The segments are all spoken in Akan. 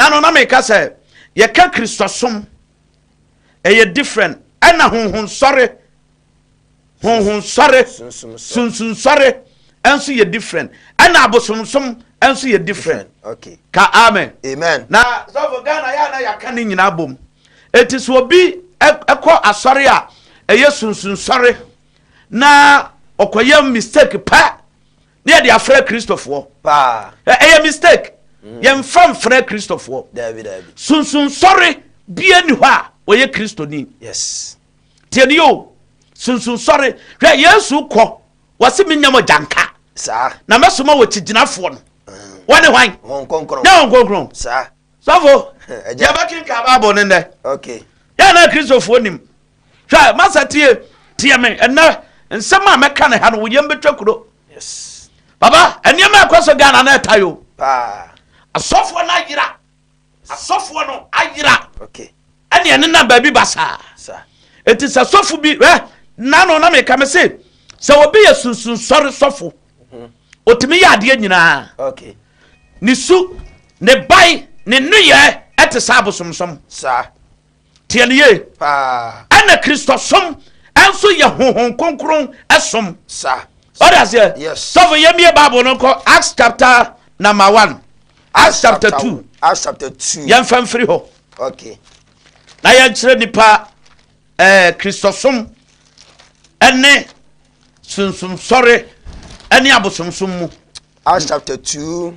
Ɛna no na meka sɛ yɛka Kristosom ɛyɛ different ɛna honhonsɔre honhonsɔre sunsunsɔre ɛnso yɛ different ɛna abosomsom ɛnso yɛ different ka amen na sɔfo Ghana yɛ a na yɛaka ne nyinaa bom ɛti sɛ obi ɛkɔ asɔre a ɛyɛ sunsunsɔre na ɔkɔyɛ mistake pɛ Ne yɛde afrɛ kristofoɔ paa ɛyɛ mistake mm. yɛmfa mfrɛ kristofoɔ sunsunsɔre bia ni hɔ a ɔyɛ kristoni tiɛ ne yɛo sunsunsɔre hwɛ yesu kɔ wɔse menya mɔ gyanka na mɛsoma wɔ kyigyinafoɔ no mm. wɔne hwan ne wɔn kronkron sɔfo yɛbɛkenka bible no nnɛ yɛ na kristofoɔ nim Hwɛ, masa tie, tie me ɛnɛ. Nsɛm a mɛka ne ha no, wo yam bɛtwa kuro. Baba, nneɛma a ɛkɔ so Ghana na ɛta yo. Asɔfoɔ no ayera. Asɔfoɔ no ayera. Ɛne ɛnenam baabi ba saa. Enti sɛ sɔfo bi, ɛ, nano na meka me se, sɛ obi yɛ sunsun sɔre sɔfo, ɔtumi mhm. yɛ adeɛ nyinaa. Ne su, ne bae, ne nneyɛɛ ɛte saa abosomsom. Saa. Tie no yie. Ɛna Kristosom nso yɛ honhom kronkron som. Ɔde aseɛ. Sɔfo yɛ mie Bible no nkɔ Acts chapter number one. Acts chapter two. Acts chapter two. Yɛn fɛn firi hɔ. Okay. Na yɛn kyerɛ nipa ɛɛ Kristosom ɛne sunsum sɔre ɛne abosomsom mu. Acts chapter two.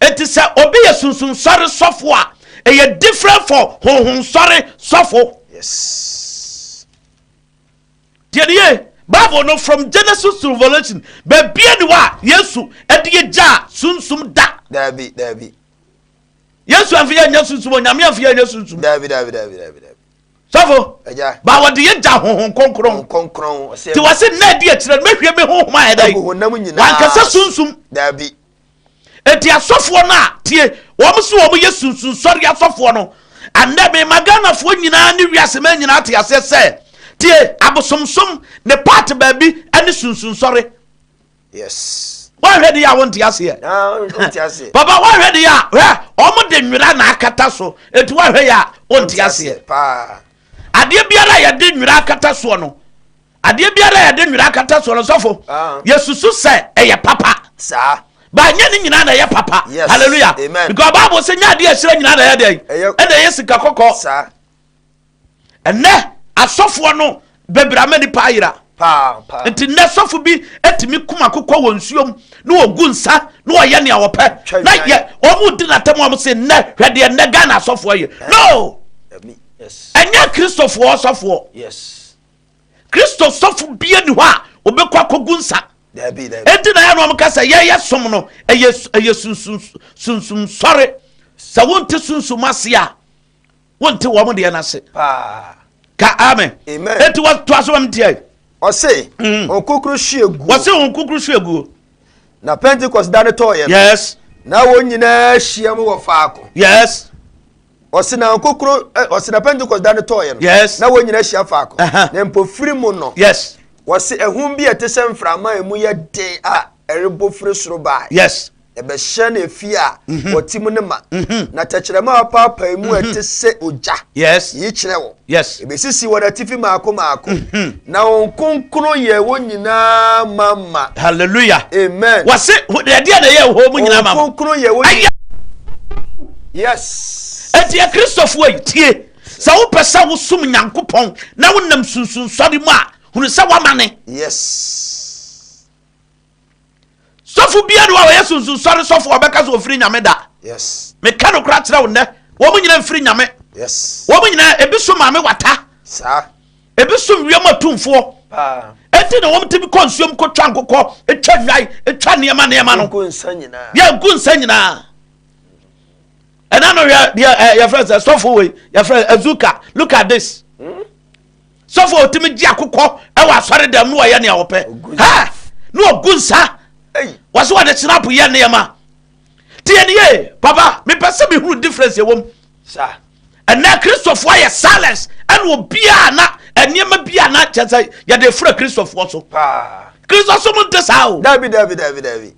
Enti sɛ obi yɛ sunsunsɔre sɔfo a, ɛyɛ different for honhonsɔre sɔfo. Yes. Deɛ ne yɛ Bible no from Genesis to Revelation baabi ani hɔ a Yesu ɛde yɛ gyaa sunsum da. Daabi daabi. Yesu anfi yɛ nyɛ sunsum o, Nyame anfi yɛ nyɛ sunsum. Daabi daabi daabi daabi daabi. Sɔfo, Agya. ba wɔde yɛ gya honhom kronkron. Honhom kronkron, ɔsɛ. Nti wɔse nna adi akyire no mɛhwie me honhom ayɛ dɛn? Agu honam nyinaa. Wankasa sunsum. Daabi. Enti asɔfoɔ no a, tie, wɔn se wɔn yɛ sunsunsɔre asɔfoɔ no, ɛnnɛ mema Ghanafoɔ nyinaa ne wiase man nyinaa te aseɛ sɛ, tie, abosomsom ne part baabi ne sunsunsɔre. yes. woanhwɛ de yɛ a wonte aseɛ papa woanhwɛ de yɛ a hwɛ ɔmo de nwera na akata so enti woanhwɛ yɛ a wonte aseɛ adeɛ biara a yɛde nwera akata soɔ no adeɛ biara a yɛde nwera akata soɔ no sɔfo ah. yɛsusu sɛ ɛyɛ papa saa baanyɛ ne nyinaa na ɛyɛ papa hallelujah because bible sɛ nyɛ adeɛ ɛhyerɛ nyinaa na ɛyɛ dɛn ɛna ɛyɛ sika kɔkɔɔ Ɛnnɛ asɔfoɔ no bɛbrɛ ama nipa ayera. Nti nnɛ sɔfo bi atumi kum akokɔ wɔ nsuom na wɔgu nsa na wɔyɛ nea wɔpɛ na yɛ wɔn di n'atam wɔn se nnɛ hwɛ deɛ nnɛ Ghana asɔfoɔ yɛ no ɛnyɛ kristofoɔ sɔfoɔ kristo sɔfo bie ni hɔ a wɔbɛkɔ akɔgu nsa ɛnti na yɛ no wɔn ka sɛ yɛyɛ som no ɛyɛ sunsum sɔre sɛ wonte sunsum ase a wonte wɔn deɛ no ase ka amen enti wɔtoa so wɔm teɛ ɔse mm. ɔkokoro hwe aguo ɔse ɔkokoro hwe aguo na pentecost da no tɔɔyɛ no yes na wɔn nyinaa hyia mu wɔ faako yes ɔse na ɔkokoro ɔse na pentecost da no tɔɔyɛ no yes na wɔn nyinaa hyia faako na mpofiri mu no yes wɔse ɛhum bi a ɛte sɛ mframa a emu yɛ den a ɛrebɔ firi soro baa yes Ɛbɛhyɛ na efie a mhm. wɔte mu no ma. Mhm. Na tɛkyerɛma a wɔpaapae mu a mhm. ɛte sɛ ogya yi kyerɛ wɔ. Ebesisi wɔn atifi maako maako. Na wɔn nkonkron yɛ wɔn nyinaa mama. Hallelujah. Amen. Wɔse ɛdeɛ na ɛyɛ wɔn mu nyinaa mama. Wɔn nkonkron yɛ wɔn nyinaa. Yes. Eti akristofoɔ yi tie. Sɛ wopɛ sɛ wosom Nyankopɔn na wonam sunsunsɔre mu a hunu sɛ woama ne. Yes. sɔfo biara ni hɔ a ɔyɛ sunsunsɔre sɔfo a ɔbɛka sɛ ɔfiri nyame da meka no kora kyerɛ wo nnɛ wɔn nyina mfiri nyame wɔn nyina ebi so maame wata ebi so wiem atumfoɔ ɛnti na wɔn tumi kɔ nsuom kɔ twa nkokɔ twa nnwan twa nneɛma nneɛma no yɛ nku nsa nyinaa ɛna no yɛ yɛfrɛ sɛ sɔfo wei yɛfrɛ azuka look at this hmm? sɔfo a ɔtumi gye akokɔ wɔ asɔredam no wɔyɛ nea wɔpɛ na ɔgu nsa wɔse wɔde snap yɛ nneɛma nti yɛne yie papa mepɛ sɛ mehunu difference ɛwom ɛnɛ kristofoɔ yɛ silence ɛne obiaa na nneɛma bi a na kyɛ sɛ yɛde fura kristofoɔ so kristosom nte saa o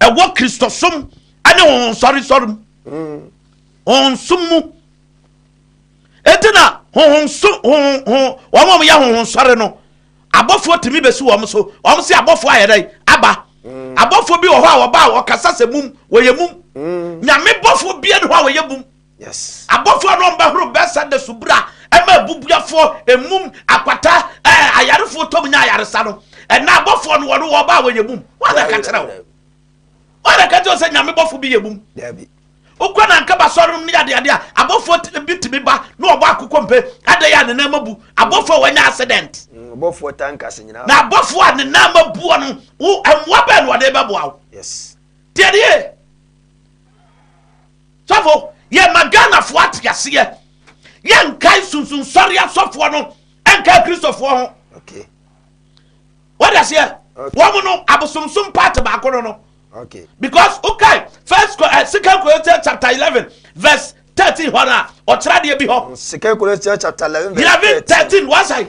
ɛwɔ kristosom ne honhonsɔresɔre mu mm. honhonsom mu ɛnti na honhonso wɔn a wɔyɛ honhonsɔre no abɔfoɔ tumi bɛsi wɔn so wɔn se abɔfoɔ ayɛ dɛ aba mm. abɔfoɔ bi wɔ hɔ a wɔba a wɔkasa sɛ mum wɔyɛ mum mm. nyame bɔfoɔ bia ne hɔ a wɔyɛ mum Abɔfoɔ no bɛhoro Betseda subura ma abubuafoɔ, mmum, akwata, ɛɛ, ayarefoɔ tɔm nya ayaresa no. Ɛna abɔfoɔ no wɔn wɔba a wɔyɛ mum. Wɔn na ka kyerɛ wo. Wɔn na ka kyerɛ wo sɛ nyame bɔfo bi yɛ mum. Wokɔ na nka basɔre nom ne yɛ adeade a abɔfoɔ bi tumi ba na ɔbɔ akokɔ mpe adɛn a ne nan ma bu abɔfoɔ a wɔanya accident. Mm, abɔfoɔ tankase nyinaa. Na abɔfoɔ a ne nan ma buo no wo mmoa bɛn na ɔde bɛboa wo. Yes. Deɛ deɛ Sɔfo, yɛ ma Ghanafoɔ ate aseɛ, yɛ nkae sunsunsɔre asɔfoɔ no nkae Kristofoɔ ho. Okay. What does here? Okay. Wɔn no abosomsom part baako no no. Okay. Because okay, first uh, second Corinthians chapter eleven verse thirteen hɔ na ɔkyerɛ adeɛ bi hɔ. Second Corinthians chapter eleven verse thirteen. Eleven thirteen wɔn sɛ.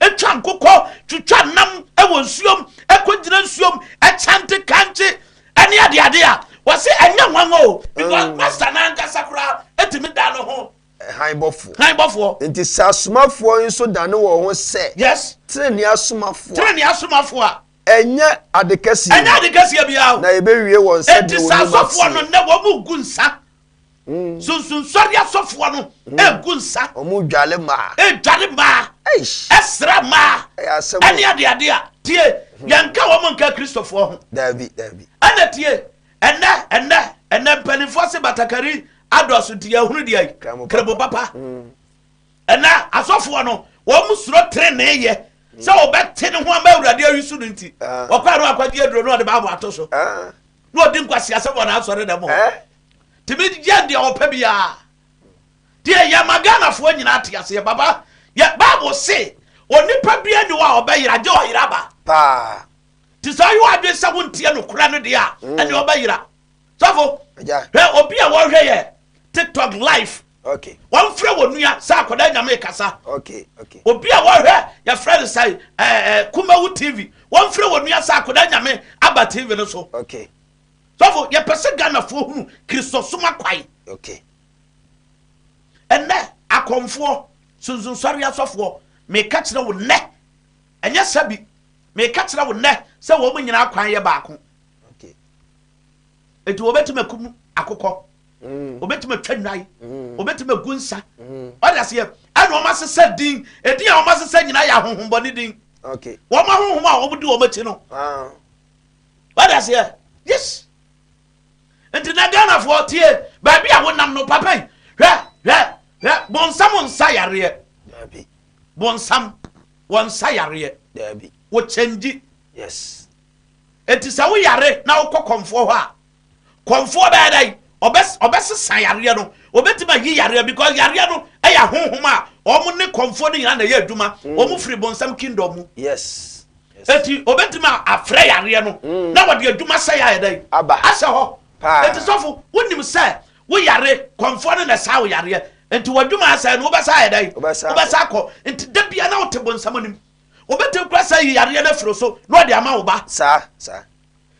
Etwa nkokɔ, twitwa nam wɔ nsuom, ɛkɔgyina nsuom, ɛkyɛnte kankye, ɛne adeade a. Wɔse ɛnyɛ nwanwa o, because Master no ankasa koraa tumi dan ne ho. Hann bɔfoɔ. Hann bɔfoɔ. Enti sɛ asomafoɔ yi nso dane wɔn ho sɛ. Yes. Tenenee asomafoɔ a. Tenenee asomafoɔ a. Ɛnyɛ ade kɛseɛ bi. Ɛnyɛ ade kɛseɛ biara o. Na yɛbɛwie wɔn sɛdeɛ wɔn nnwuma teɛ. Enti sɛ asɔfoɔ no nnɛ wɔn mu ngu nsa Sunsunsɔre asɔfoɔ no ɛgu nsa. Wɔn dwale mmaa. Ɛdwale mmaa. Ɛsra mmaa. Ɛyɛ asɛm. Ɛne ade ade a tie yɛnka wɔn nka kristofoɔ ho. Daabi daabi. Ɛna tie ɛnɛ ɛnɛ ɛnɛ mpanimfoɔ se batakari adɔso nti yɛhunu deɛ yi krebo papa. Ɛnɛ asɔfoɔ no wɔn suro trenee yɛ sɛ wɔbɛte ne ho ama awurade ayi so no nti wɔkɔ ano akɔgye aduro no ɔde baabo ato so. na ɔdi nkwaseasɛm wɔ n'asɔredɛm hɔ tumi yɛ deɛ ɔpɛ biara deɛ yɛ ma ghanafoɔ nyinaa te aseɛ baba yɛ bible se onipa bia ni hɔ a ɔbɛyera gye ɔyera ba paa nti sɛ ɔyɛ wadwen sɛ wonteɛ nokorɛ no deɛ a ɛne ɔbɛyera sɔfo hwɛ obi a wɔhwɛ yɛ Tiktok live wɔnfrɛ wɔ nua sɛ akwadaa nyame rekasa obi a wɔhwɛ yɛfrɛ no sɛ kumawu tv wɔnfrɛ wɔ nua sɛ akwadaa nyame aba tv no so sɔfo yɛpɛ sɛ ghanafoɔ hunu kristosom akwan ɛnɛ akɔmfoɔ sunsunsɔre asɔfoɔ meka kyerɛ wo nnɛ ɛnyɛ sɛ bi meka kyerɛ wo nnɛ sɛ wɔn nyinaa kwan yɛ baako Enti wɔbɛtumi akum akokɔ, wɔbɛtumi atwa nnwan, wɔbɛtumi agu nsa. Ɔde aseɛ ɛna wɔn asesa din. Edin a wɔn asesa nyinaa yɛ ahohombɔne din. Wɔn ahohom a wɔn di wɔn akyi no. Ɔde aseɛ yes. Nti na Ghanafoɔ tie baabi a wonam no papa yi hwɛ hwɛ hwɛ bɔnsam nsa yareɛ. Bɔnsam wɔn nsa yareɛ. Wɔkyɛngyi. Yes. Enti sɛ woyare na wokɔ kɔmfoɔ hɔ a, kɔmfoɔ bɛyɛ dɛn? Ɔbɛ, ɔbɛsesa yareɛ no. Ɔbɛtumi ayi yareɛ because yareɛ no yɛ ahonhom a wɔn ne kɔmfoɔ no nyinaa na ɛyɛ adwuma. Wɔn firi bonsam kingdom mu. Yes. Enti ɔbɛtumi afrɛ yareɛ no mm. na wɔde adwuma sɛ yɛ ayɛ dɛn? Aba. Ahyɛ hɔ. Paa. Enti sɔfo, wonim sɛ woyare, kɔmfoɔ no na ɛsaa wo yareɛ. Enti w'adwuma asɛe no, wobɛsa ayɛ dɛn? Wobɛsa akɔ. Nti da biara na wote bonsam anim. Obetumi koraa sɛ ayi yareɛ no afiri wo so na ɔde ama wo ba. Saa, saa.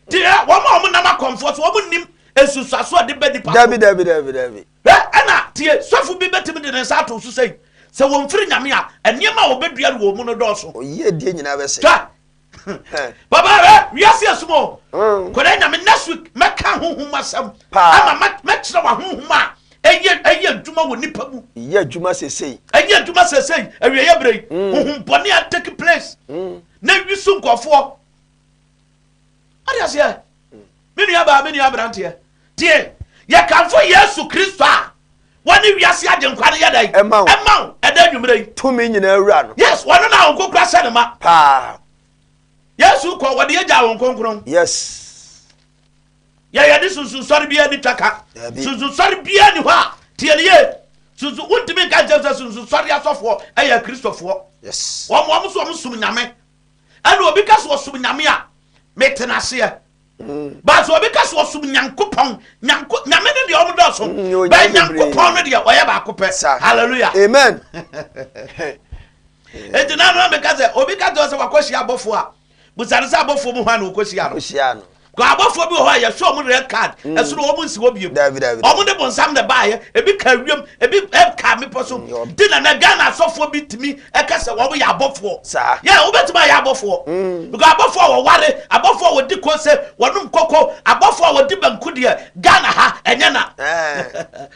Nti ɛ, wɔn a wɔnam akɔmfoɔ so, wɔn nnim nsunsuaso a ɛde ba nipa so. Dabi, dabi, dabi, dabi. Ɛ, ɛna tie, sɔfo bi betumi de ne nsa ato wo so sɛ yi. Sɛ wɔmfiri Nyame a, nneɛma a wɔbɛdua no wɔn mu no dɔɔso. Oyiedie nyinaa bɛsɛ. Twa. Papa, ɛ, wiase asum o. Kɔda Nyame, next week, mɛka ahonhom mu asɛm. Paa. Ama mɛ, mɛkyerɛ wo ahonhom a Ɛyɛ, ɛyɛ adwuma wɔ nnipa mu. Ɛyɛ adwuma seesei. Ɛyɛ adwuma seesei, awieeɛ berɛ yi. Mm. Honhom bɔne a take place. Mm. Na ɛwi so nkurɔfoɔ. Ɔde aseɛ. Mm. Me nua baa, me nua aberanteɛ. Tie, yɛkamfo Yesu Kristo a wɔne wiase agyenkwa no yɛ dɛn? Ɛma wo. Ɛma wo, ɛda anwummerɛ yi. Tumi nyinaa wura no. Yes, wɔno na wɔn kokora hyɛ ne ma. Paa. Yesu kɔ, wɔde agya wɔn kronkron. Yes. Yɛ yɛde sunsunsɔre biara ni twaka. Sunsunsɔre biara ni hɔ a, tie no yie. Sunsun, wontumi nka nkyɛn sɛ sunsunsɔre asɔfoɔ yɛ akristofoɔ. Wɔn wɔn so wɔn som nyame. Ɛna obi ka so ɔsom nyame a, mete n'aseɛ. Mm. But obi ka so ɔsom nyankopɔn, nyanko, nyame no deɛ wɔn dɔɔso. Mm, Bɛn nyankopɔn no deɛ ɔyɛ baako pɛ. Hallelujah. Amen. Eti na no ameka sɛ obi ka sɛ wakɔhyia abɔfoɔ a. Bisa no sɛ abɔfoɔ mu hwan na wɔkɔhyiaa no. Kɔhyiaa no. Because abɔfoɔ bi wɔ hɔ a yɛhwɛ wɔn red card, ɛsono wɔn nsi hɔ bio. Dabi, dabi, dabi. Wɔn de bonsam na ɛbaeɛ, ebi kaa wiem, ebi ɛm kaa mmepɔ so. Mm, yɔ. Ti na na Ghana asɔfoɔ bi tumi ɛka sɛ wɔn yɛ abɔfoɔ. Saa. Yeah, wobɛtumi ayɛ abɔfoɔ. Mm. Because abɔfoɔ a wɔware, abɔfoɔ a wɔdi kose, wɔnom koko, abɔfoɔ a wɔdi banku deɛ, Ghana ha, ɛnyɛ na. Eh.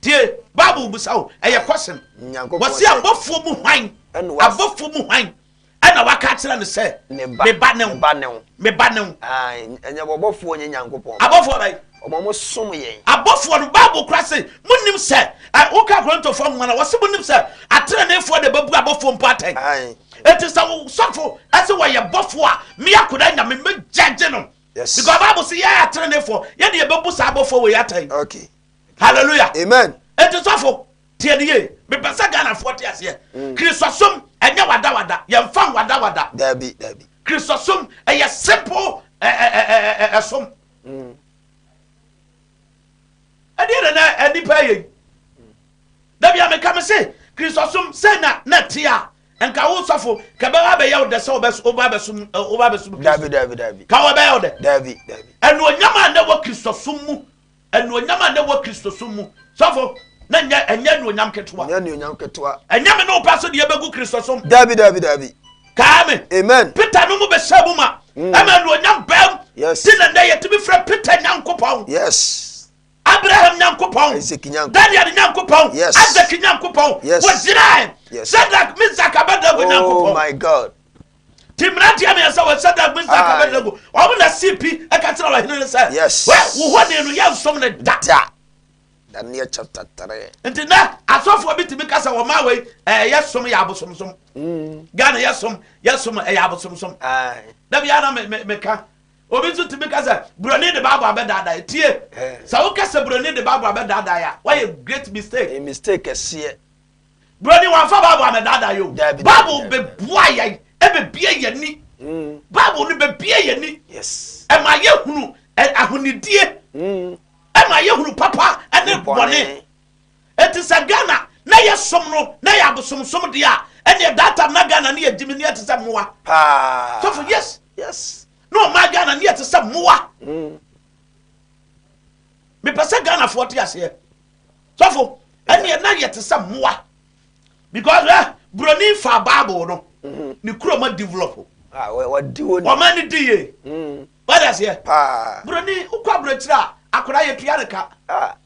Tie! Bible bisa wo, ɛyɛ kɔsem. Wɔse abɔfoɔ mu hwan, abɔfoɔ mu hwan ɛna waka akyerɛ no sɛ, Me ba ne wo, me ba ne wo. Ɛnyɛ bɔbɔfoɔ, ɛnyɛ Nyankopɔn. Abɔfoɔ bɛn? Wɔn a wɔsom yɛn. Abɔfoɔ no, Bible koraa se, Monnim sɛ, woka Korintofoɔ nwoma no a, wɔse monnim sɛ ateneneefoɔ na ɛbɛbu abɔfoɔ mpo atɛn. Enti sɛ wo sɔfo ɛse wɔyɛ bɔfoɔ a, me akoda Nyame, mɛgyɛgye no. Yes. Because Bible se yɛn ateneneefoɔ, yɛne yɛbɛbu saa abɔfoɔ wei atɛn. Okay. hallelujah amen eti sɔfo tie ne yie mepɛ sɛ ghanafoɔ te aseɛ mm. kristosom ɛnyɛ wadawada yɛmfa wadawada daabi daabi kristosom ɛyɛ simple ɛsom ɛdeɛ na na nipa yɛ dabi a meka me se kristosom sɛ na na te a nka wo sɔfo kɛbɛba bɛyɛ wo dɛ sɛ woba bɛsom woba bɛsom kristo ka wɔbɛyɛ wo dɛ ɛnuonyam a na wɔ kristosom mu Anuonyam a na ɛwɔ Kristosom mu. Sɔfo, na ɛnyɛ ɛnyɛ anuonyam ketewa. Ɛnyɛ anuonyam ketewa. Ɛnyɛ me ne wo pɛ so deɛ ɛbɛgu Kristosom. Daabi, daabi, daabi. Kae me. Amen. Peter no mu bɛhyɛ mu ma. Mm. Ɛma anuonyam bɛm. Yes. Ti na nnɛ yɛtumi frɛ Peter Nyankopɔn. Yes. Abraham Nyankopɔn. Isaac Nyankopɔn. Daniel Nyankopɔn. Yes. Isaac Nyankopɔn. Yes. Wɔgyinae. Yes. Shadrach, Meshach, Abednego oh Nyankopɔn. Oh my God. Ti mmeranteɛ mmiɛnsa wɔ Sadrach, Mesach, Aye. Abednego. Wɔn na si pi ka kyerɛ ɔhene no sɛ, Yes. Wɛ, wo honi no, yɛnsom no da. Da. Daniel chapter 3. Nti nnɛ asɔfoɔ bi tumi ka sɛ wɔmaa wei ɛɛ yɛsom yɛ abosomsom. Ghana yɛsom yɛsom ɛyɛ abosomsom. Aye. Da biara na me me meka. Obi nso tumi ka sɛ buroni de Bible abɛdaadaa. Tie, Eh. sɛ woka sɛ buroni de Bible abɛdaadaa a, woayɛ great mistake. Ɛyɛ mistake kɛseɛ. Broni wɔamfa Bible amɛdaadaa yɛ o. Bible bɛboa yɛn ɛbɛbie yɛn ni. Mm. Bible no bɛbie yɛn ni. Ɛma yɛhunu ahonidie. Mm. Ɛma yɛhunu papa ɛne bɔne. Eti sɛ Ghana na yɛ som no na yɛ abosomsom deɛ a ɛneɛ data na Ghana ne yɛ gyimi ne yɛ te sɛ mmoa. Paa. Sɔfo yes. Yes. na ɔma ghana ne yɛte sɛ mmoa mepɛ sɛ ghanafoɔ te aseɛ sɔfo ɛneɛ na yɛ te sɛ mmoa because ɛ eh, buroni fa bible no mm-hmm. ne kuro ma develop ah, wɔma ani di yie mm. wade aseɛ buroni wokɔ aburokyiri a akora yɛtua ne ka ah.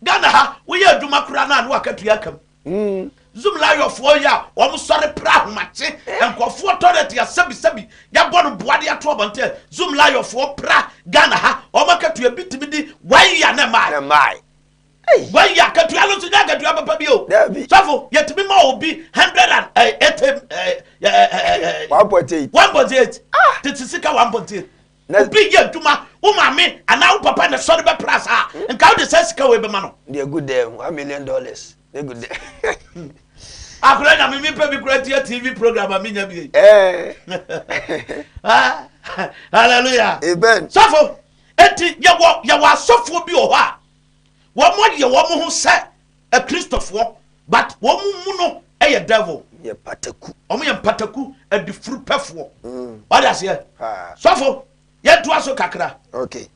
ghana ha woyɛ adwuma kora no a ne waka tua kam Hmm. Zim lawyerfoɔ yi a wɔn sɔre pra ahomakye eh. nkurɔfoɔ toilet yɛ sɛbisɛbi yɛbɔ no boa de ato abɔnten Zim lawyerfoɔ pra Ghana ha wɔn akatua bi tumi di one year na mmaa one year akatua no nso nyɛ akatua papa bi o sɔfo yɛtumi ma obi hundred and eh, eighty eh, one point eight one point eight ah. tete sika one point eight. Na. Obi yɛ adwuma, wo maame anaa wo papa na sɔre bɛ pra saa a, nka wode saa sika wei bɛma no. Deɛ gu dan ho, one million dollars na gu dan. Akora nyame me pɛ bi kora tia TV program a menya bi. Hallelujah. Amen. Sɔfo, eti yɛwɔ yɛwɔ asɔfoɔ bi wɔ hɔ a wɔn yɛ wɔn ho sɛ Akristofoɔ but wɔn mu mu no yɛ devil. Yɛ pataku. Wɔn yɛ mpataku adifuru pɛfoɔ. Mm. Wade aseɛ. Paa. Sɔfo yɛn to aso kakra. Okay.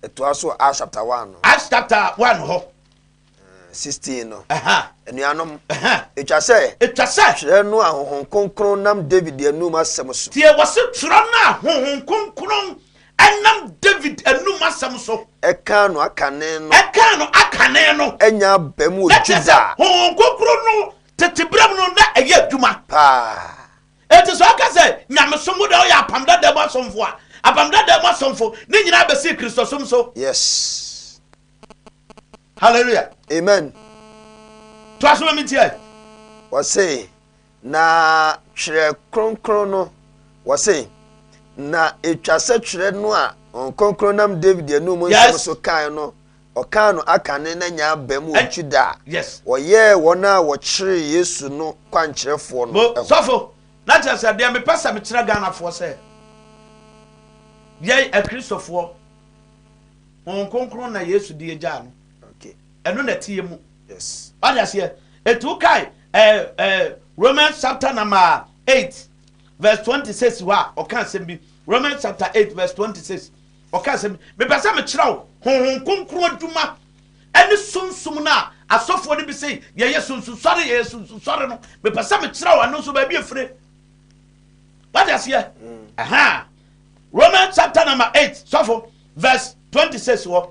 Ɛto aso Acts chapter one no. Acts chapter one hɔ. Eh, sixteen no. Ɛhɛn. Anuanom. Ɛhɛn. Etwa sɛ. Etwa sɛ. Twerɛ no a honhom kronkron nam David anum asɛm so. Tie wɔsi twerɛ no a honhom kronkron Ɛnam David anum asɛm so. Ɛkaa no akane no. Ɛkaa no akane no. Anya aba mu wɔ Juda. Na kyerɛ sɛ, Honhom Kronkron no tete berɛ mu no, na ɛyɛ adwuma. Paa. Enti sɛ ɔka sɛ, Nyamesom wo deɛ woyɛ Apam Dada mu asomfo a, Apam Dada mu asomfo ne nyinaa bɛsii Kristosom so. Yes. Hallelujah. Amen. Toa so ma me ntie. Wɔse. Na Twerɛ Kronkron no, wɔse, na etwa sɛ Twerɛ no a Honhom Kronkron nam David anum nsɛm so kae no, ɔkaa no akane na nyaa aba mu wɔ Juda a wɔyɛɛ wɔn a wɔkyeree Yesu no kwankyerɛfoɔ no ho. Mo sɔfo, na kyerɛ sɛ deɛ mepɛ sɛ mekyerɛ Ghanafoɔ sɛ, yɛn Akristofoɔ, Honhom Kronkron na Yesu de agyaa no. Ɛno na ɛteɛ mu. Wate aseɛ? Enti wokae ɛɛ ɛɛ Romans chapter number eight verse twenty six hɔ a ɔka asɛm bi. Romans chapter eight verse twenty six ɔka asɛm bi. Mepɛ sɛ mekyerɛ wo honhom kronkron adwuma ɛne sunsum no a asɔfoɔ no bi sɛ yɛyɛ sunsusɔre yɛyɛ sunsusɔre no. Mepɛ sɛ mekyerɛ wo ɛno nso baabi efire. Wate aseɛ? Ɛha mm. Romans chapter number eight sɔfo verse twenty six hɔ.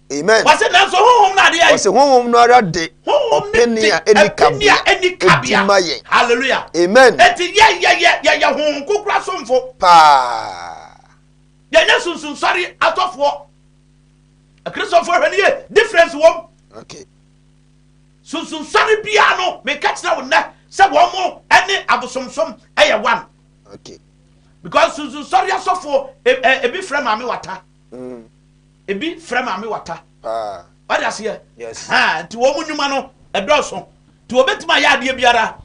amen wɔsi nanso honhom no adeɛ wɔsi honhom no ara de ɔpɛni a ɛni kabea ɛni kabea ma yɛn hallelujah amen eti yɛ yɛ yɛ yɛ yɛ honhom kukura somfo paa yɛn yɛ sunsun sɔre atɔfoɔ akristofoɔ hwɛ ne yɛ difference wɔm okay sunsun sɔre biara no meka kyerɛ wo nnɛ sɛ wɔn mo ɛne abosomsom ɛyɛ one okay because sunsun sɔre asɔfoɔ ebi frɛ maame wata. Mm. Ebi frɛ maame wata. Wate aseɛ? Ahaa, nti wɔn nnwuma no, ɛdɔɔso. Nti wɔbɛtumi ayɛ adeɛ biara.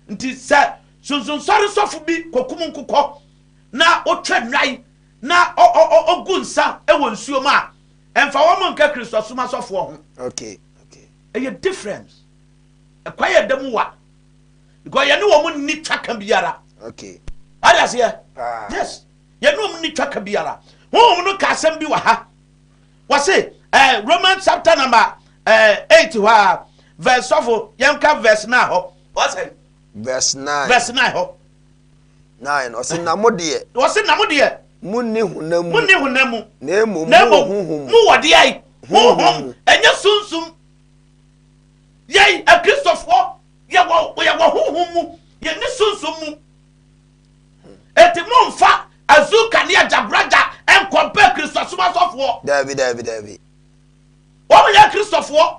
Nti sɛ sonsonsɔre sɔfo bi kɔkum nkokɔ na ɔtwa nnwan na ɔgu nsa wɔ nsuo mu a, ɛmfa wɔn nka Kristosom asɔfoɔ ho. Ɛyɛ difference. Ɛkwan a ɛda mu wa. Because yɛne wɔn nni twaka biara. Wate aseɛ? Yes. Yɛne wɔn nni twaka biara. Honhom no ka asɛm bi wɔ ha. Wɔse, eh, Romans chapter number eh, eight hɔ a, verse sɔfo, yɛnka verse nine hɔ. Wɔse. Verse nine. Verse nine hɔ. Nine, ɔse na mo deɛ. Wɔse na mo deɛ. Munni honam mu. Munni honam mu. Na emom mo wɔ honhom mu. Mo wɔ deɛ yi. Honhom. Ɛnyɛ sunsum. Yɛn akristofoɔ yɛwɔ yɛwɔ honhom mu. Yɛnni sunsum mu. Enti momfa Azuka ne Agyagoraja nkɔmpare Kristosom asɔfoɔ. Daabi, daabi, daabi. Wɔn nyɛ Kristofoɔ.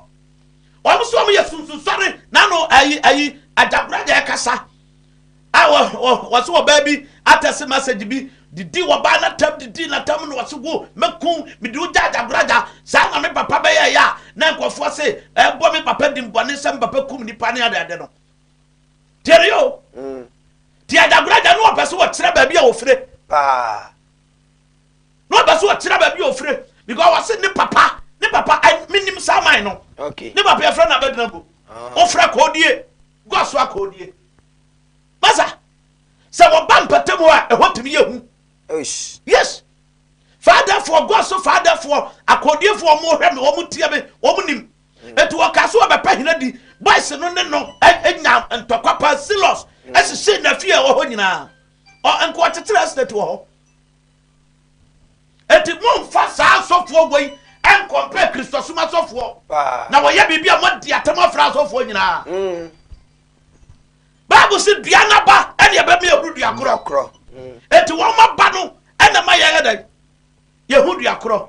Wɔn nso wɔn yɛ sunsunsɔre n'ano ayi ayi Agyagoraja ɛkasa a wɔse wɔbaa bi atɛse message bi didi wɔbaa n'atam didi n'atam na wɔse wo mɛkum mede wo gya Agyagoraja saa na me papa bɛyɛ ɛyɛ a na nkurɔfoɔ se ɛbɔ me papa dimbɔne sɛ me papa kum nipa ne adeade no tiɛni o mm. ti adagorɔ agya no ɔpɛ so wɔkyerɛ baabi a wɔfire paa na ɔpɛ so wɔkyerɛ baabi a wɔfire because wɔse ne papa ne papa menim saa man no ne papa yɛfrɛ no abɛgyina go wofrɛ ah. kɔɔdie gu aso akɔɔdie masa sɛ wɔba mpɛtɛ mu a ɛhɔ tumi yɛ hu yes faadafoɔ gu aso faadafoɔ akɔɔdiefoɔ wɔn hwɛ me wɔn tie me wɔn nim Enti wɔkaa sɛ wɔbɛpɛ hena di. Boys no ne no nyaa ntɔkwa paa. Silos sisii n'afie a ɛwɔ hɔ nyinaa. Ɔ, anka ɔkyekyeree estate wɔ hɔ. Enti momfa saa asɔfoɔ wei nkɔmpɛɛ Kristosom asɔfoɔ. Na wɔyɛ biribi a moadi atam afra asɔfoɔ nyinaa. Bible se dua n'aba ɛne ɛbɛma yɛhunu dua korɔ. Enti wɔn aba no ɛna ɛma yɛyɛ dɛn? Yɛhu dua korɔ.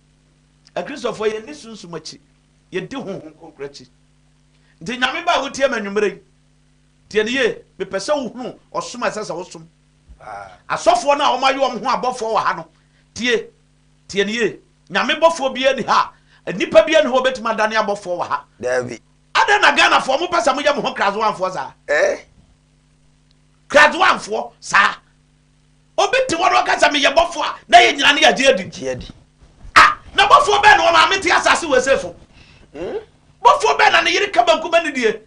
Akristofoɔ yɛnni sunsum akyi, yɛdi Honhom Kronkron akyi. Nti Nyame Ba a wotie me anwummerɛ yi, tie no yie, mepɛ sɛ wohunu ɔsom a ɛsɛ sɛ wosom. Asɔfoɔ no a wɔayɛ wɔn ho abɔfoɔ wɔ ha no, tie, tie no yie, Nyame bɔfoɔ biara nni ha a, nnipa biara nni hɔ a wɔbɛtumi adane abɔfoɔ wɔ ha. Daabi. Adɛn na Ghanafoɔ mopɛ sɛ moyɛ mo ho Krazowanfoɔ saa? Eh? Krazowanfoɔ saa? Obi te hɔ na ɔka sɛ, Meyɛ bɔfoɔ a, na yɛn nyinaa ne yɛagye adi. Gye adi. Ah, na bɔfoɔ bɛn na wɔn maame te asase wɔ ese so? Bɔfoɔ bɛn na ne yere ka bankum anidie?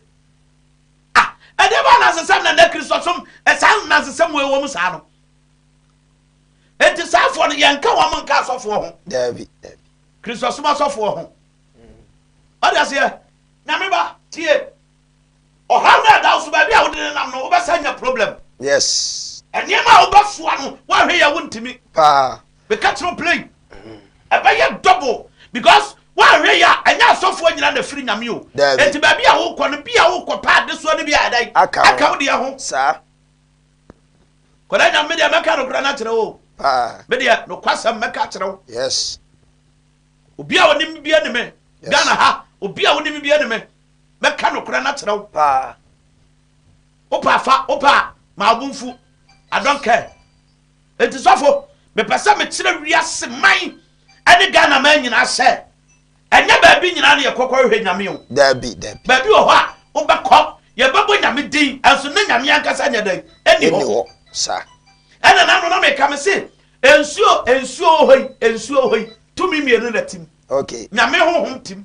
Ah, ɛdeɛ bɛn anansesɛm na nnɛ Kristosom saa anansesɛm wei wɔ mu saa no? Enti saa afoɔ no, yɛnka wɔn nka asɔfoɔ ho. Daabi, daabi. Kristosom asɔfoɔ ho. Ɔde aseɛ, Nyame ba, tie. Ɔhaw no ɛda wo so baabi a wode nenam no wobɛsan nya problem. Yes. Nneɛma a wobɛsoa no woanhwɛ yɛ a wontumi. Paa. Meka kyerɛ wo plain. Ɛbɛyɛ double because woanhwɛ yɛ a ɛnyɛ asɔfoɔ nyina na ɛfiri Nyame o. Daabi. Enti baabi a wokɔ no bi a wokɔ pɛ adesoa no bi ayɛ dɛn? Aka ho. Aka wo deɛ ho. Saa. Kɔda Nyame me deɛ mɛka nokorɛ no akyerɛ wo o. Paa. Me deɛ nokwasɛm mɛka akyerɛ wo. Yes. Obi a ɔnim bia ni me. Yes. Ghana ha obi a wonim bia ni me. Mɛka nokorɛ no akyerɛ wo paa Wopɛ a fa, wopɛ a ma wo bo mfu I don't care Enti sɔfo, mepɛ sɛ mekyerɛ wiase man ne Ghana man nyinaa sɛ Ɛnyɛ baabi nyinaa na yɛkɔ kɔhwehwɛ Nyame o Daabi, daabi Baabi wɔ hɔ a wobɛkɔ, yɛbɛbɔ Nyame din nso na Nyame ankasa nyɛ dɛn? Nni hɔ Nni hɔ, saa Ɛna na ano na meka mese Nsuo, nsuo wɔ hɔ yi, nsuo wɔ hɔ yi Tumi mmienu na ɛtim Okay Nyame honhom tim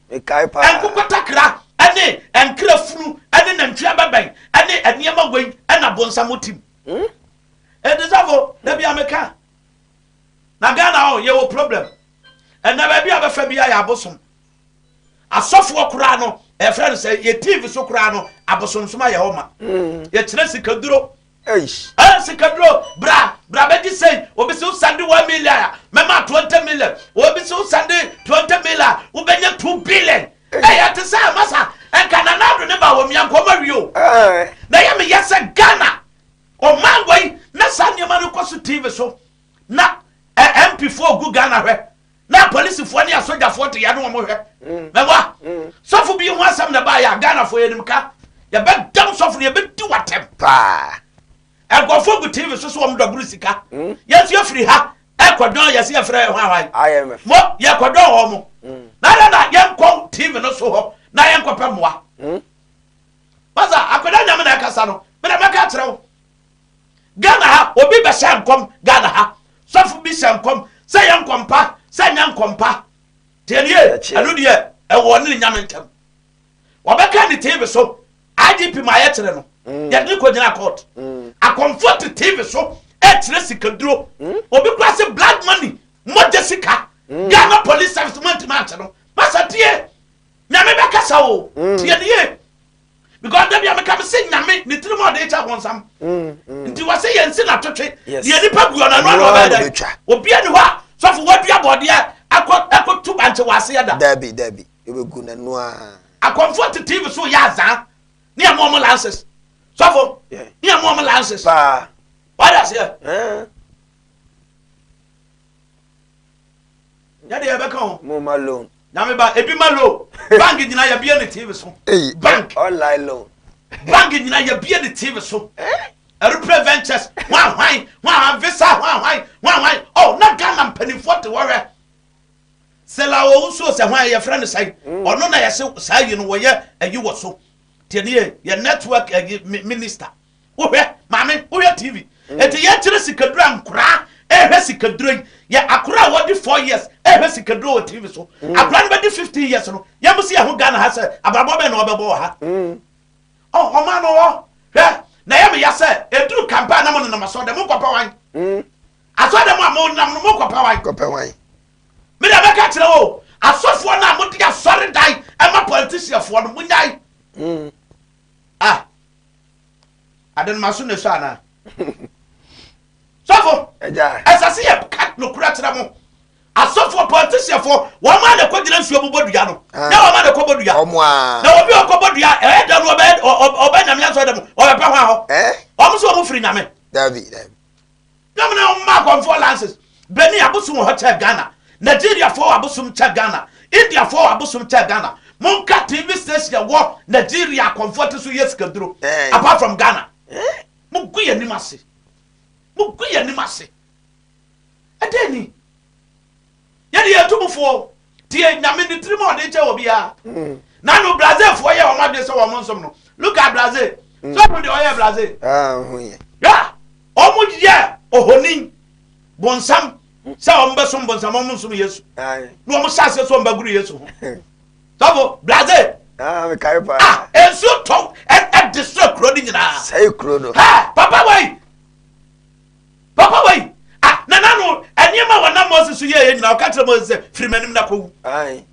Mekae paa. Nkokotakra ne nkra funu ne nantwi abɛbɛn ne nneɛma wei na bonsam tim. Hmm? Ɛdi safo, da bia meka. Na Ghana hɔ yɛwɔ problem. Ɛnna baabi a bɛfa bia yɛ abosom. Asɔfoɔ koraa no, ɛfrɛ no sɛ yɛ TV so koraa no, abosomsom ayɛ hɔ ma. Hmm. Yɛkyerɛ sikaduro, Eish. Ɛ sikaduro bra bra bɛgye sei obi se wo sɛnde one million a mɛma twenty million obi se wo sɛnde twenty million a wobɛnya two billion ɛyɛ te sɛ masa nka Nana Addo ne ba wɔ mia nka ɔmo awie o na ɛyɛ me ya sɛ Ghana ɔman wei na saa nneɛma no kɔ so TV so na ɛ MP foɔ gu Ghana hwɛ na apolisifoɔ ne asogyafoɔ te yɛ ne wɔn hwɛ mɛwa sɔfo bi ho asɛm na ɛbaayɛ a ghanafoɔ yɛnim ka yɛbɛdam sɔfo no yɛbɛdi watɛm paa ɛgɔfoɔ gu tv so so wɔn dɔboro sika yɛn nso yɛfiri ha ɛkɔdɔn yɛsɛ yɛfrɛ yɛ ho ahwan mo yɛkɔdɔn hɔ mo na dɛ na yɛnkɔ tv no so hɔ na yɛnkɔpɛ mmoa masa akɔda nyame na ɛkasa no mena mɛka kyerɛ wo Ghana ha obi bɛ hyɛ nkɔm Ghana ha sɔfo bi hyɛ nkɔm sɛ yɛ nkɔm pa sɛ nyɛ nkɔm pa tie no yie ɛno deɛ ɛwɔ ɔne ne nyame ntɛm wɔbɛka ne TV so IGP ma yɛ kyerɛ no mm. yɛde ne kɔ gyina court mm. akɔmfo te TV so ɛkyerɛ sikaduro mm. obi kura se blood money mogya sika Ghana police service mo ntoma akyɛ no masa tie nyame bɛkasa o tie no yie because dabi a meka me se nyame ne tirim a ɔde kyɛ abɔnsam mm, mm. nti wɔ se yɛnsi na twetwe deɛ nipa gu ɔno ɛno ano ɔbɛyɛ dɛ obia ne hɔ a sɔfo wadua bɔdeɛ akɔ akɔ tu bankye wɔ aseɛ da dabi dabi yɛbɛgu n'ano a akɔmfoɔ te tv so yɛ azaa ne ɛmo ɔmo lances sɔfo ne ɛmo ɔmo lances paa wade aseɛ Nyɛ deɛ ɛbɛka ho. Mo ma loan. Nyame ba ebi ma loan. Bank nyina yɛbie ne TV so. Bank. Online loan. Bank nyina yɛbie ne TV so. Aeroplane ventures hwan hwan hwan hwan visa hwan hwan hwan hwan oh na Ghana mpanimfoɔ te hɔ hwɛ. Sela owu nsuo sɛ hwan yɛfrɛ no sɛn ɔno na yɛse saa yi no wɔyɛ ayi wɔ so. Tiɛni yɛ yɛ network ayi minister. Wohwɛ, maame, wohwɛ TV. Enti yɛkyerɛ sikaduro a nkwadaa rehwɛ sikaduro yi. Yɛ akwadaa a wɔdi four years rehwɛ sikaduro wɔ TV so. Akwadaa no bɛdi fifteen years no, yɛn si yɛn ho Ghana ha sɛ abrabɔ bɛn na wɔbɛbɔ wɔ ha. Ɔ ɔman no wɔ hwɛ na ɛyɛ me ya sɛ eduru campaign na mo nenam asɔ dɛ mo nkɔpɛ wan. Asɔ dɛ mo a mo nam no mo nkɔpɛ wan. Kɔpɛ wan. Me deɛ mɛka kyerɛ wo asɔfoɔ no a mo de asɔre dan ɛma politicianfoɔ no mo nyae. Ah! Ade no m'aso na esɔ anaa? Sɔfo, ɛsɛ sɛ yɛka nokorɛ kyerɛ mo. Asɔfoɔ, politicianfoɔ, wɔn a na ɛkɔgyina nsuo mu bɔ dua no, na wɔn a na ɛkɔbɔ dua. Na obi a ɔkɔbɔ dua, ɛyɛ dɛm no, ɔbɛyɛ ɔbɛyɛ nyame asɔre dɛm, ɔbɛpɛ hɔ ahɔ. Wɔn nso wɔn firi nyame. Dabi, dabi. Dɛm na ɔmaa Kɔnfoɔ lances bɛnii abosom wɔ hɔ kyɛɛ Ghana, Nigeriafoɔ abosom kyɛ Ghana, Indiafoɔ abosom kyɛ Ghana. Monka TV station a ɛwɔ Nigeria a Kɔnfoɔ te so yɛ sikaduro apart from Ghana. Mogu yɛn anim ase. Mogu yɛn anim ase. Ɛdɛn ni? Yɛn deɛ yɛtu mo fo o. Tie Nyame ne tirim a ɔde kyɛ obiara. Na no Brazil foɔ yɛ wɔn adwene sɛ wɔn nsom no. Look at Brazil. So ɔmo deɛ ɔyɛ Brazil. Hwɛ a ɔmo yɛ ohonin, bonsam, sɛ ɔmo bɛsom bonsam ɔmo nsom Yesu. Na ɔmo hyɛ aseɛ sɛ ɔmo bɛgoro Yesu ho. Sɔfo Brazil. Ah nsuo tɔ ɛde srɛ kuro no nyinaa. Sɛe kuro no. Hɛ papa wei. Papa wei, a, na n'ano, nneɛma a wɔnam Moses so yɛeɛ nyinaa, ɔka kyerɛ Moses sɛ, Firi m'anim na kɔwu. Ae.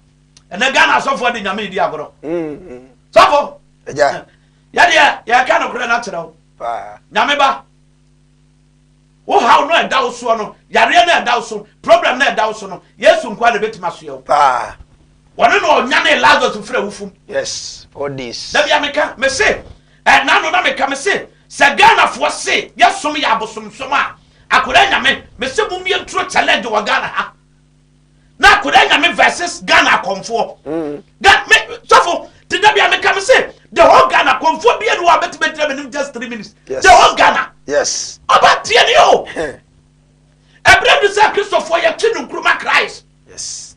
Ɛnɛ Ghana asɔfoɔ de Nyame redi agorɔ. Mm. Sɔfo, Agya. yɛdeɛ yɛreka nokorɛ no akyerɛ wo. Paa. Nyame ba, wo haw no a ɛda wo soɔ no, yareɛ no a ɛda wo so, problem no a ɛda wo so no, Yesu nkoa na ɛbɛtumi asoɛ wo. Paa. Wɔne na ɔnyanee Lazarus firi awufo mu. Yes, four days. Da bia meka, mese, Ɛna no na meka mese sɛ Ghana foɔ se yɛ som yɛ abosomsom a akwadaa nyame mese mo mie nturo challenge wɔ Ghana ha na akwadaa nyame versus Ghana akɔmfoɔ ga me sɔfo te da bia meka mese the whole Ghana akɔmfoɔ bia ni wɔ a bɛtumi agyina menim just three minutes yes. the whole Ghana yes ɔba tie ni o ɛberɛ du sɛ kristofoɔ yɛtwe no nkuruma Christ yes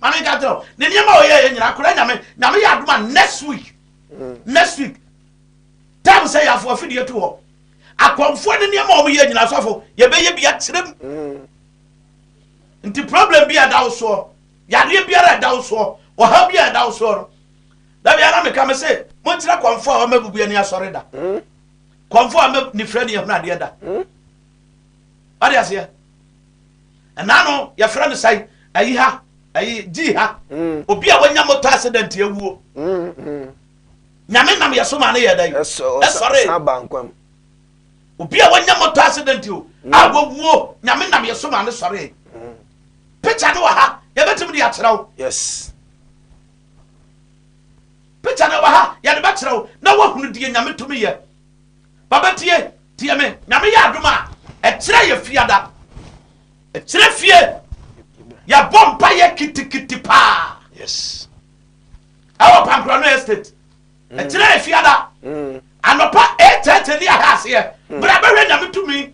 Ma me nka nkyerɛ wo, ne nneɛma a ɔyɛeɛ nyinaa, koraa Nyame, Nyame yɛ adom a next week, next week, time sɛ yɛafo afidie to hɔ, akɔmfoɔ ne nneɛma a wɔyɛ nyinaa sɔfo, yɛbɛyɛ bi akyerɛ mu. Nti problem bi a ɛda wo soɔ, yadeɛ biara a ɛda wo soɔ, ɔhaw bi a ɛda wo soɔ no, da bi ara meka me se, monkyerɛ kɔmfoɔ a wɔmabubu ani asɔre da, kɔmfoɔ a wɔma nifirani ahunu adeɛ da. Wate aseɛ? Ɛna no yɛfrɛ no sɛn? Ayi ha, ayi, gyi ha. Obi a wanya motor accident awuo. Nyame nam yɛ so maa no yɛɛ dɛn? Ɛsɔree. San baa nkwa mu. Obi a wanya motor accident o, a wawuo, Nyame nam yɛ so maa no sɔree. Picture no wɔ ha, yɛbɛtumi de akyerɛ wo. Yes. Picture no wɔ ha, yɛde bɛkyerɛ wo na woahunu deɛ Nyame tumi yɛ. Ba bɛ tie, tie me, Nyame yɛ adom a, ɛkyerɛ yɛ fiada, ɛkyerɛ fie, yɛ bɔ mpa yɛ kitikiti paa. Yes. Ɛwɔ Pankorano Estate, mm. ɛkyerɛ yɛ fiada, mm. anɔpa ɛtɛtɛ ni ahɛ aseɛ, mm. bra bɛhwɛ Nyame tumi.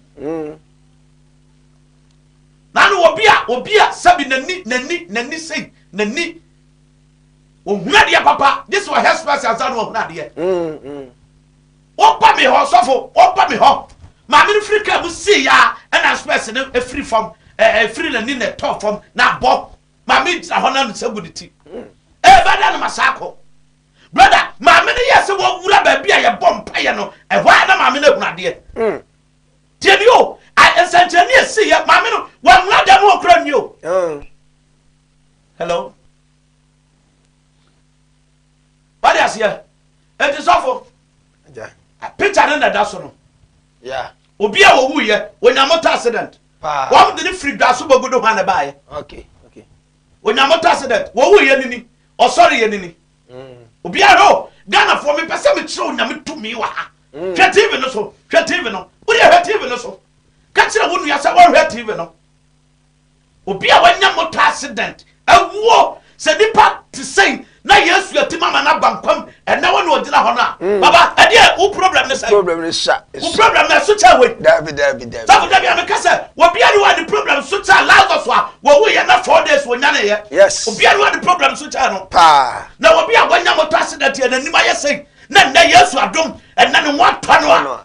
Nanu obi a, obi a, sɛbi n'ani, n'ani, n'ani sei, n'ani. Ohunu adeɛ papa gye sɛ ɔhɛ spice ansa na wahunu adeɛ. Woba me hɔ sɔfo, woba me hɔ. Maame no firi kaa mu sii ya ɛna spice no efiri fam efiri n'ani na ɛtɔɔ fam na abɔ. Maame gyina hɔ na ne nsa gu ne ti. Ee bɛda no ma saa kɔ. Brother, maame no yɛ sɛ wɔwura baabi a yɛbɔ mpaeɛ no ɛhɔ a na maame no ahunu adeɛ. Tie ni o, nsɛnkyerɛnne a ɛsii yɛ maame no wɔnwura dan mu hɔ koraa nwie o. Hello? Wode aseɛ? Enti sɔfo, picture no na ɛda so no. Yeah. Obi a wɔwuiɛ, wɔnya motor accident. Wɔn de ne firi dwa so bɔgu do hɔ a na ɛbaeɛ. Okay, okay. Wɔnya motor accident, wɔwuiɛ no ni, ɔsɔre yɛ no ni. Mm. Obi a hɔ, Ghanafoɔ mepɛ sɛ mekyerɛ onyame tumi wɔ ha. Mm. Hwɛ TV no so, hwɛ TV no. Wodeɛ hwɛ TV no so. Ka kyerɛ wo nua sɛ wɔhwɛ TV no. Obi a wanya motor accident awuo sɛ nipa te sɛn na yesu atim ama no aba nkwam ɛnɛ wo na ogyina hɔ no a mm. baba ɛdeɛ wo problem ne sɛn problem ne sa wo problem na ɛso kyɛ wei dabi dabi dabi safo dabi a meka sɛ obi a ne wa ne problem so kyɛ lazarus a wɔwu yɛ na four days wɔnyane yɛ yes obi a ne wa ne problem so kyɛ no paa na obi a wanya motor accident yɛ n'anim ayɛ sɛn na nnɛ yesu adom ɛnɛ ne ho atɔ no a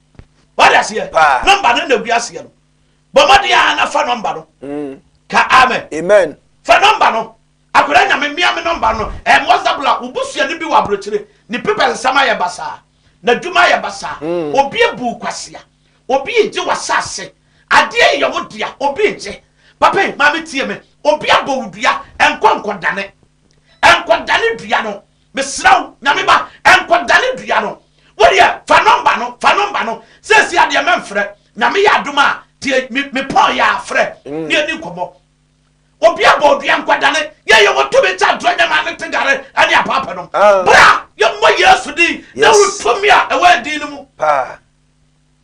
wade aseɛ nɔmba no na gu aseɛ no bɔ mmɔden a na fa nɔmba no mm. ka amen amen fa nɔmba no akwadaa nyame mmea me nɔmba no ɛm whatsapp la wobusua no bi wɔ aburokyire ne pepa nsɛm ayɛ basaa n'adwuma ayɛ basaa mm. obi abu kwasea obi egye w'asase adeɛ yɛ wo dea obi egye papa maame tie me obi abɔ wo dua nkɔ nkɔdane nkɔdane dua no Mesrɛ wo, Nyame ba, nkɔdane dua no. Wo deɛ, fa nɔmba no, fa nɔmba no. Seesei ara deɛ, mɛmfrɛ. Nyame yɛ adom a, tie me, me pɔn yɛ a, frɛ na yɛni nkɔmmɔ. Obi abɔ wo dua, nkɔdane. Yɛn yɛwɔ tumi kyɛn atorɔ nyɛmmoa ne tegare ne apaapanom. Bra, yɛmmɔ Yesu din, Dawid tumi a ɛwɔ yɛn din no mu.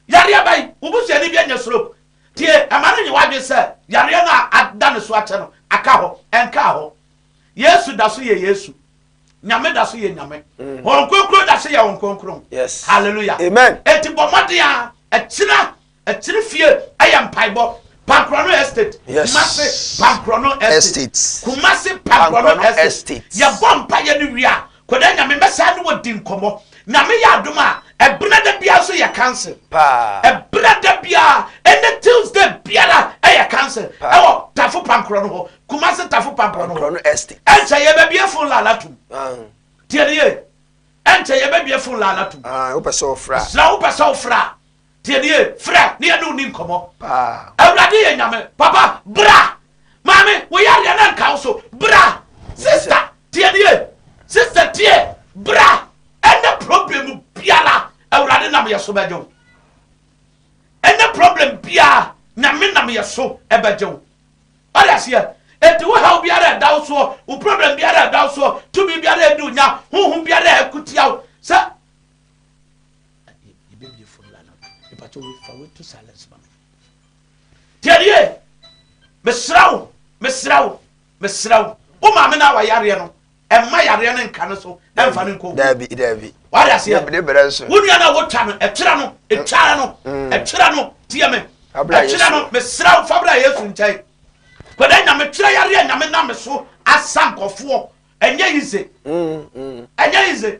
Yareɛ bɛn? Wo busuani bi anya stroke. Tie, mma no nnye w'adwene sɛ yareɛ no a ada ne so akyɛ no aka hɔ. Ɛnkaa hɔ. Yesu da so yɛ Yesu. Nyame da so yɛ Nyame. Mm. Wɔn kronkron da so yɛ wɔn kronkron. Yes. Hallelujah. Amen. Eti bɔ mmɔden a ɛkyina ɛkyiri fie ɛyɛ mpaebɔ. Pankrono estate. Yes. Kumasi Pankrono estate. Kumasi Pankrono estate. Yɛ bɔ mpa yɛ ne wia. Koda Nyame mɛsan ne wɔ di nkɔmɔ Nyame yɛ adom a ɛbrɛ da biara nso yɛ council ɛbrɛ da biara ɛnɛ Tuesday biara ɛyɛ council ɛwɔ Tafo Pankorɔ no hɔ Kumasi Tafo Pankorɔ no hɔ ɛnkyɛ yɛ bɛ bie fon laala tum tie ne yie ɛnkyɛ yɛ bɛ bie fon laala tum mesrɛ wo wopɛ sɛ wo fra a. Tie nie, frɛ ne yɛne wo ni nkɔmmɔ. Paa. Awurade yɛ Nyame. Papa, bra! Maame, wo yareɛ no nka wo so, bra! Sister, tie nie, sister tie, bra! Ɛnɛ problem biara, Awurade nam yɛ so bɛgye wo. Ɛnɛ problem biara, Nyame nam yɛ so bɛgye wo. Ɔde aseɛ, enti wo haw biara ɛda wo soɔ, wo problem biara ɛda wo soɔ, tumi biara ɛdi wo nya, honhom biara ɛko tia wo, sɛ Na yɛ yɛ bebie fo nla no mepatɔ wei fa wei to silence ma me. Tiɛnie mesrɛ wo mesrɛ wo mesrɛ wo wo maame no a wayareɛ no ɛmma yareɛ no nka no so ɛmfa no nkɔ wuo daabi daabi wade aseɛ ne berɛ nso wo nua no a wotwa no ɛtwerɛ no ɛtwara no mm. ɛtwerɛ no tiɛ me ɛtwerɛ no mesrɛ wo fa berɛ a yesu nkyɛn kɔdɛ nyame twerɛ yareɛ nyame nam so asa nkɔfoɔ ɛnyɛ yize mm, mm. ɛnyɛ yize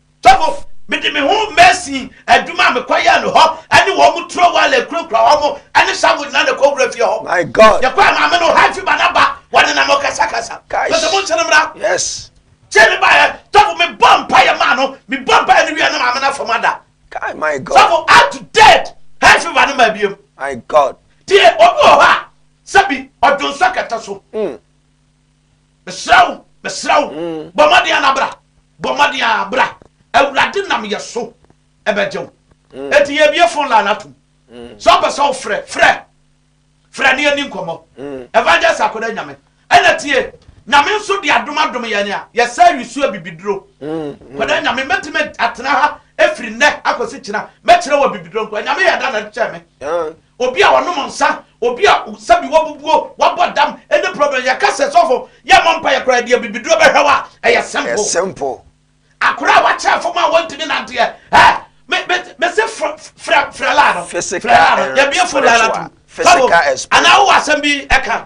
Togo, Mede me ho Mason adwuma a mekɔyɛɛ no hɔ ne wɔn turo wɔ a yɛkurakura wɔn ne Samuel nyinaa na ɛkɔ Wura fie hɔ. My God! Yɛkɔɔ maame no hɔ afi ba na ba, wɔnenam ɔkasakasa. Kai! Mese mo nkyɛn mmra. Yes! Tie me baeɛ, Togo, mebɔɔ mpaeɛ maa no, mebɔɔ mpaeɛ no wieɛ na maame no afam ada. Kai! My God! Togo, Up to date, hay fever no maa biem. My God! Tie, obi wɔ hɔ a, sɛbi, ɔdwonsɔ kɛtɛ so. Mm. Mesrɛ wo, mesrɛ wo, bɔ mmɔden ara bra, bɔ mmɔden ara bra, Awurade nam yɛn so bɛgye wo. Enti yɛabue phone line atom. Sɛ wopɛ sɛ wofrɛ, frɛ, frɛ na yɛnni nkɔmmɔ. Evangelist Akoda Nyame na tie. Nyame nso de adom adom yɛn a yɛsan awi so abibiduro. Akoda Nyame, mɛtumi atena ha firi nnɛ akɔsi kyena, mɛkyerɛ wo abibiduro nko ara. Nyame yɛ dɛ na ɛkyɛɛ me. Obi a ɔnom nsa, obi a sɛbi wabubuo, wabɔ dam, any problem, yɛka sɛ sɔfo yɛmmɔ mpaeɛ koraa deɛ bibiduro bɛhwɛ wo a, ɛyɛ simple. Ɛyɛ simple. Akora a wakyɛ fam a wɔntumi nanteɛ, eh, me, me, mese fr, frɛ, frɛ laa no, frɛ laa no, yɛbie fo laa no atom, fa wom, anaa wowɔ asɛm bi ɛka.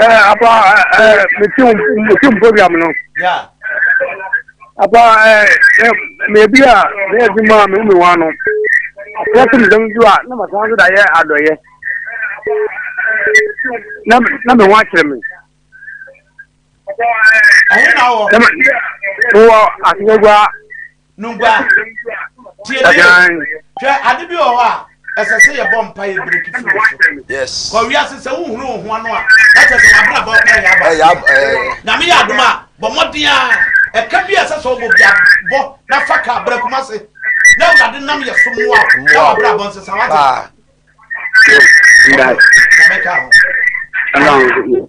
Eh, apa, eh, meti wo meti wo program no. Yeah. Apa, eh, eh, me bi a me adi ma me me wa no. Ya tum dam ju a na ma san da ye adoye. Na na me wa kyerɛ me. ɛhe na wɔ. wɔ asomagua. nungua tie ne hwɛ ade bi wɔ hɔ a ɛsɛ sɛ yɛbɔ mpa yɛ breki firi wo so yes kɔ wiase sɛ wohunu wo ho ano a na kyɛ sɛ wabrabɔ ɛyɛ aba nyame yɛ adom a bɔ mmɔden a ɛka bi a ɛsɛ sɛ ɔbɔ bia bɔ na fa ka brɛ kuma se na awurade nam yɛ so mmoa na wabrabɔ nsesa wate na mɛka ho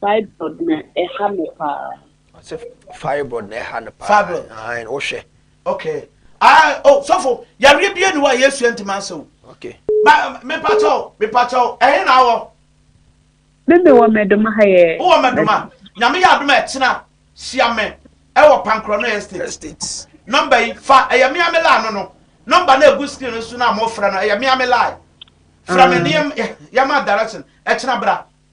Fibroid na ɛha no paa. Ɔse fibroid na ɛha no paa. Fibroid. Ae wo hwɛ. Okay ae oh sɔfo yareɛ bie ni hɔ a yesu ɛnti ma nsɛ o. Okay. Ma me pa kyɛw me pa kyɛw ɛhe na awɔ. Me me wɔ mɛdoma ha yɛ. Wo wɔ mɛdoma nyame yɛ adom a ɛkyena hyia me ɛwɔ pankrɔno estate. Estate. Number yi fa ɛyɛ mea me line no no number na egu screen no so na mo frɛ no ɛyɛ mea me line frɛ me ne yɛ ma direction ɛkyena bra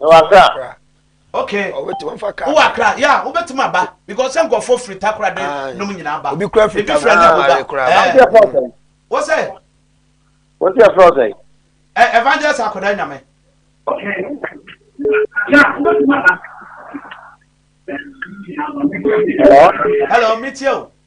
ɛwɔ akra okay ɔbɛtumi fa kaa wɔ akra yɛ a wobɛtumi aba because sɛ nkɔfoɔ firi takora de nom nyinaa ba obi kura firi takora na ɔba ɛɛ wɔ sɛ wɔ sɛ ɛfrɛ sɛ ɛ evangelist akɔda nyame hello metie o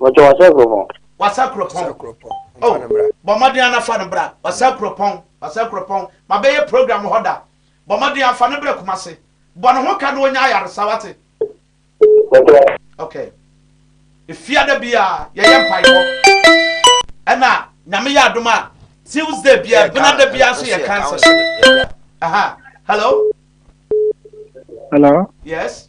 Wɔtɔ wasa kuropɔn. Wasa kuropɔn. Wasa kuropɔn. Mfa oh, no bra. Bɔ mmɔden ana fa no bra. Wasa mm. kuropɔn. Wasa kuropɔn. Ma bɛyɛ program wɔ hɔ da. Bɔ mmɔden afa no bra kuma se. Bɔ ne ho ka na ɔnya ayaresa wate. Okay. Efiada bia yɛyɛ mpaebɔ. Ɛna nyame yɛ adom a Tuesday bia benada bia nso yɛ cancel. Aha. Hello. Hello. Yes.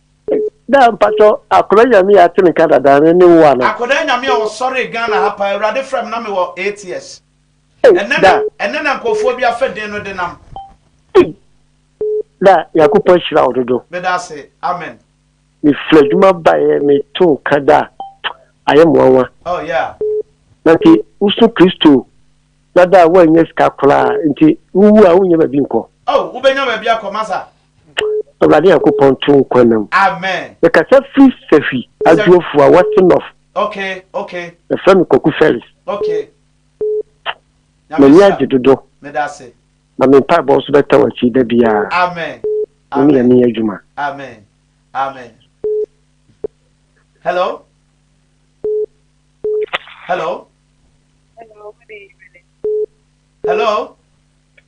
Daa mpatsɔ akɔda nyame a atse ne nka dada no ne wo ana. Akɔda nyame a ɔsɔree Ghana ha paa awurade frɛ me na me wɔ eight years ɛnɛ na ɛnɛ na nkorɔfoɔ bi afɛ den no denam. Daa Nyankopɔn ahyira wo dodo. Meda ase amen. Me firi adwuma baeɛ me to nka daa ayɛ me nwanwa. Oh yeah. Na nti wo so Kristo na daa wo annya sika koraa nti wo wu a wo nnya baabi nkɔ. Oh wo bɛnya baabi akɔ masa Awurade Nyankopɔn to nkwa nna mu. Amen. Mekasa firi Sahwi, Adwoafua, West North. Okay, okay. Yɛfrɛ me Kwaku Felix. Okay. M'ani agye dodo. Meda ase. Na me mpaebɔ nso bɛtɛ w'akyi da biara. Amen. Wo ne Nyame yɛ adwuma. Amen. Amen. Hello? Hello? Hello?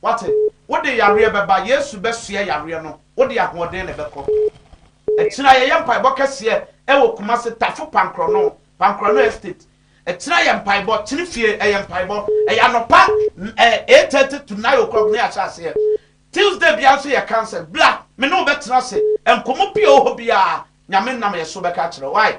Woate? Wode yareɛ bɛba, Yesu bɛsoɛ yareɛ no, wode ahoɔden na ɛbɛkɔ. Akyire ayɛyɛ mpaebɔ kɛseɛ ɛwɔ Kumasi Tafo Pankrɔno, Pankrɔno Estate. Akyire ayɛ mpaebɔ, kyene fie ɛyɛ mpaebɔ, ɛyɛ anɔpa eight thirty to nine o'clock na yɛahyɛ aseɛ. Tuesday biara nso yɛ council, bra, me ne wo bɛtena ase, nkɔmmɔ pii a ɛwɔ hɔ biara, Nyame nam yɛso bɛka akyerɛ wo. Why?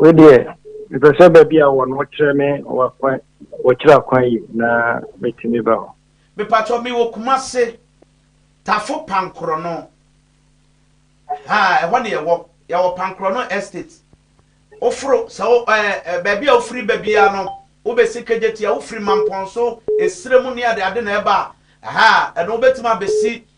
wei deɛ mepɛ sɛ baabi a wɔ no wokyerɛ me wakwan wɔkyerɛ akwan yi na mɛtumi ba hɔ mepatɔ me wɔ kuma se tafo pankorɔ no ha ɛhɔ ne yɛwɔ yɛwɔ pankorɔ no estate woforo sɛ wo ɛɛ baabi a wofiri ba biara no wobɛsi kegyeti a wofiri mampɔn so esire mu ne ade ade na ɛba ha ɛno wobɛtumi abɛsi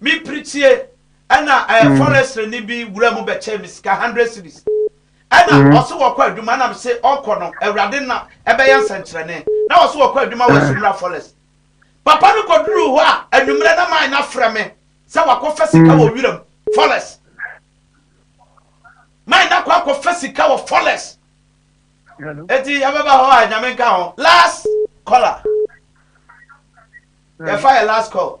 Me piritie ɛna ɛɛ forestry ni bi wura mu bɛ kyɛɛ me sika hundred cedis ɛna ɔse wɔ kɔ adwuma ɛna me se ɔkɔ no awurade na ɛbɛ yɛ nsɛnkyerɛne na ɔse wɔ kɔ adwuma wɔ asumura forest papa no kɔ duru hɔ a anwummerɛ na maa na frɛ me sɛ wakɔ fɛ sika wɔ wura mu forest maa na kɔ akɔ fɛ sika wɔ forest eti ɛbɛ ba hɔ a nyame nka ho last caller yɛ fa yɛ last call.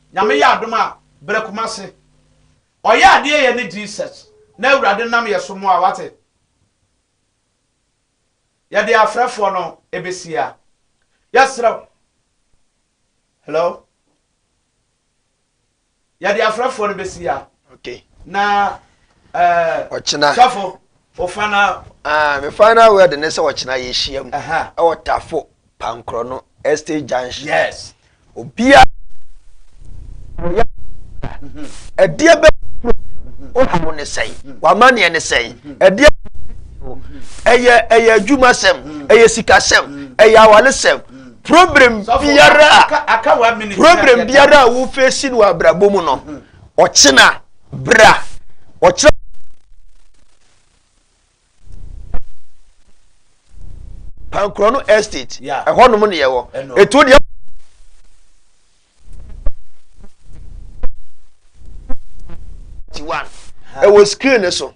Nyame yɛ adom a brɛ komase. Ɔyɛ adeɛ yɛ ne Jesus na awurade nam yɛ so moa wate yɛ de afrɛ foɔ no ɛbɛsi a yɛ serɛ wo hello yɛ de afrɛ foɔ no bɛsi a Okay. Na ɛɛ. Ɔkyena. Sɔfo, o final. Ah, me final word ne sɛ ɔkyena yɛ hyia mu. Ɛhɛn. Ɛwɔ tafo pankorɔ no estate junction. Yes. Obia. Ɔyɛ. Ɛdeɛ bɛ. Ɔhaw ne sɛn. Wama neɛ ne sɛn. Ɛdeɛ. Ɛyɛ ɛyɛ adwuma sɛm. Ɛyɛ sika sɛm. Ɛyɛ awale sɛm. Problem biara. Problem biara a wofesi no abrabɔ mu no. Ɔkyena bere a ɔkyerɛ Pankorɔ no estate ɛhɔnom ne yɛwɔ etu deɛ. ɛwɔ screen no so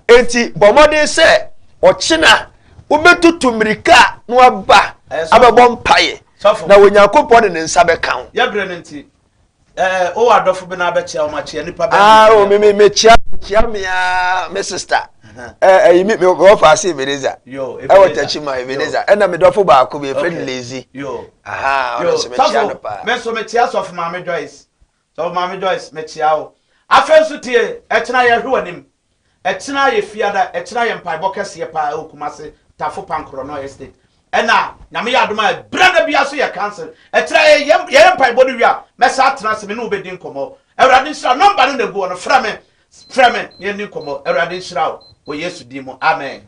eti bɔ mmɔden sɛ ɔkyena wobɛtutu mmirika na waba abɛbɔ mpaeɛ na onyankopɔn de ne nsa bɛka ho. Ɛɛ, o wɔ adɔfo bi na abɛkyia wɔn akyia nipa bɛn. Aa ah, o mi mi mi kyia kyia mi aa mi sista. Ɛɛ ɛyi mi mi wɔ faase Ebeneza. Yoo Ebeneza ɛwɔ tɛkyi ma Ebeneza ɛna mi dɔfo baako bi efe ni Lezi. Yoo aha ɔno nso mi kyia no paa. Mi nso mi kyia sɔfo maame Joyce sɔfo maame Joyce mi kyia o. Afei nso tie ɛkyina yɛ hwe wɔ anim. Ɛkyena ayɛ fiada, ɛkyena ayɛ mpaebɔ kɛseɛ paa ɛwɔ Kumasi Tafo Pan Korɔnɔ Estate. Ɛna Nyame yɛ adom a ɛberɛ da biara nso yɛ cancel. Ɛkyena yɛ yɛyɛ mpaebɔ no wie a, mɛsan atena ase me ne wo bɛdi nkɔmmɔ. Awurade nhyira wo. Nɔmba no na ɛgu hɔ no, frɛ me, frɛ me na yɛnni nkɔmmɔ. Awurade nhyira wo wɔ Yesu din mu. Amen.